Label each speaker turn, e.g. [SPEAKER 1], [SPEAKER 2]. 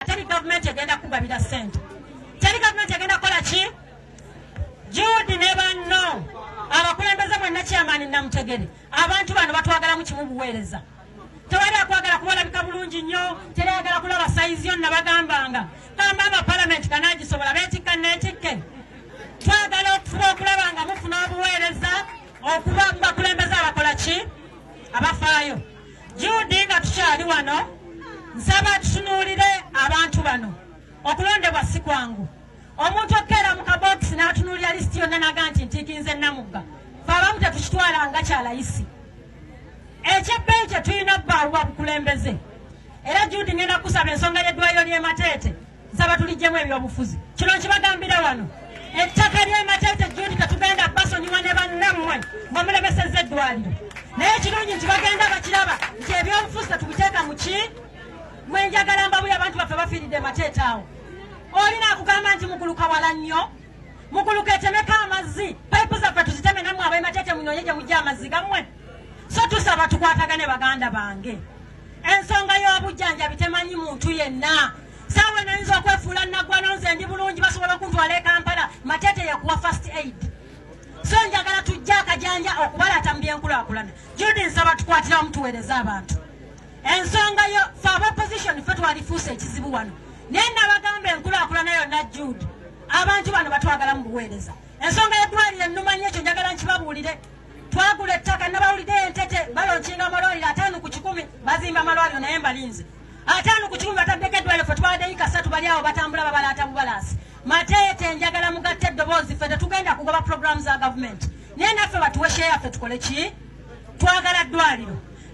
[SPEAKER 1] teri gavumenti egenda kugabira sente teri gavumenti egenda kukola ki juudi ne banno abakulembeze mwenna kyamaani namutegere abantu bano batwagalamu kimu buweereza tewali akwagala kubalabika bulungi nnyo terayagala kulaba sayizi yo nabagambanga kamba aba palamenti kanagisobola betikka netikke twagala okufuba okulaba nga mufuna obuweereza okuba mubakulembeze abakola ki abafaayo Jude nga tukyali wano nsaba tutunuulire abantu bano okulondebwa si kwangu omuntu okukeera mu kabokisi n'atunuulira lisiti yonna naga nti ntiikinze namugga fe abamu tetukitwala nga kyalayisi ekyebbeeyi kye tulina bbaaluwa bukulembeze era jundi ngenda kusaba ensonga y'eddwaliro ly'emateete Nsaba tulijjemu ebyobufuzi. Kino nkibagambira wano. Ettaka ly'e Mateete Jude Katuganda basonyiwa ne bannammwe nga mulemesezza eddwaliro. Naye ekirungi nti bagenda bakiraba nti ebyobufuzi tetubiteeka mu ki mwe njagala mbabuye abantu baffe bafiiridde Mateete awo. Olina akugamba nti muguluka wala nnyo muguluka etemeko amazzi payipu zaffe tuziteme nammwe ab'e Mateete munoonye gye mujja amazzi gammwe. so tusaba tukwatagane baganda bange ensonga y'obujjanjabi temanyi muntu yenna saawa nayinza okwefuula naggwano nze ndi bulungi basobola okuntwala e kampala matete yekuwa first aid so njagala tujja akajanja okubalata mu byenkulakulana judi nsaba tukwatirawo mutuweereza abantu ensonga yo fe abaposition fe twalifuusa ekizibu wano naye nabagamba enkulakulana yonna jude abantu bano batwagala mu buweereza ensonga yedwalire nnumanya ekyo njagala nkibabuulire twagula ettaka nabawulidde entete balonkinga amalwaliro ataano ku kikumi bazimba amalwaliro naye mbalinze ataano ku kikumi bataddeko eddwaliro fe twadeyi kasatu bali awo batambula babalaata bubalaasi mateete njagala mugatte eddoboozi fe tetugenda kugoba puroguramu za gavumenti naye naffe batuwe sheya fe tukole ki twagala ddwaliro